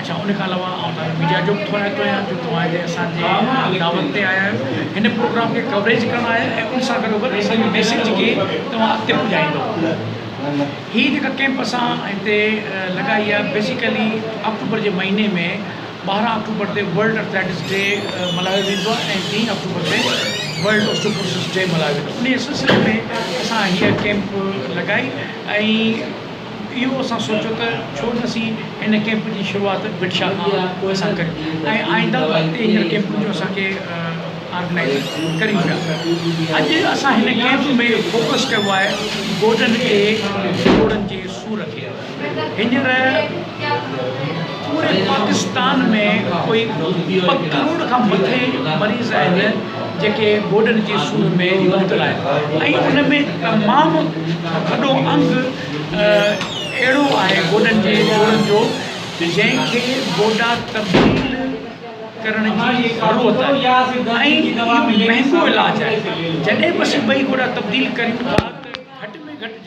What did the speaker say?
اچا ان کان علاوه آئون توهان کي ميڊيا جو به ٿورائتو ڪيان جو توهان هتي اسان جي دعوت تي آيا آهيو هن پروگرام کي ڪوريج ڪرڻ آيا آهيو ان سان گڏو گڏ اسان جي ميسيج کي توهان اڳتي پڄائيندو هي جيڪا ڪيمپ اسان هتي لڳائي آهي بيسيڪلي آڪٽوبر جي مهيني ۾ ٻارهن آڪٽوبر تي ورلڊ اٿليٽڪس ڊي ملهايو ويندو آهي ۽ ٽي آڪٽوبر تي ورلڊ اوسٽوپروسس ڊي ملهايو ويندو آهي ان سلسلي ۾ اسان هيء ڪيمپ لڳائي ۽ اهو اسان سوچيو ته ڇو نه اسين هن ڪئمپ جي شروعات وٽشا کان اسان ڪريون ۽ آئنده به اڳتي هيڙن ڪئمپن جو اسان کي آرگنائيز ڪريون پيا. اڄ اسان هن ڪئمپ ۾ فوڪس ڪيو آهي گوڏن کي، جوڙن جي سور کي. هينئر پوري پاڪستان ۾ ڪوئي ٻه ڪروڙ کان مٿي مريض آهن جيڪي گوڏن جي سور ۾ مبتلا آهن ۽ ان ۾ تمام وڏو انگ اهڙو آهي گوڏن جي جوڙن جو جنهن کي گوڏا تبديل ڪرڻ جي ضرورت آهي ۽ اهو مهنگو علاج آهي جڏهن به اسين ٻئي گوڏا تبديل ڪريون ٿا ته گهٽ ۾ گهٽ جيڪي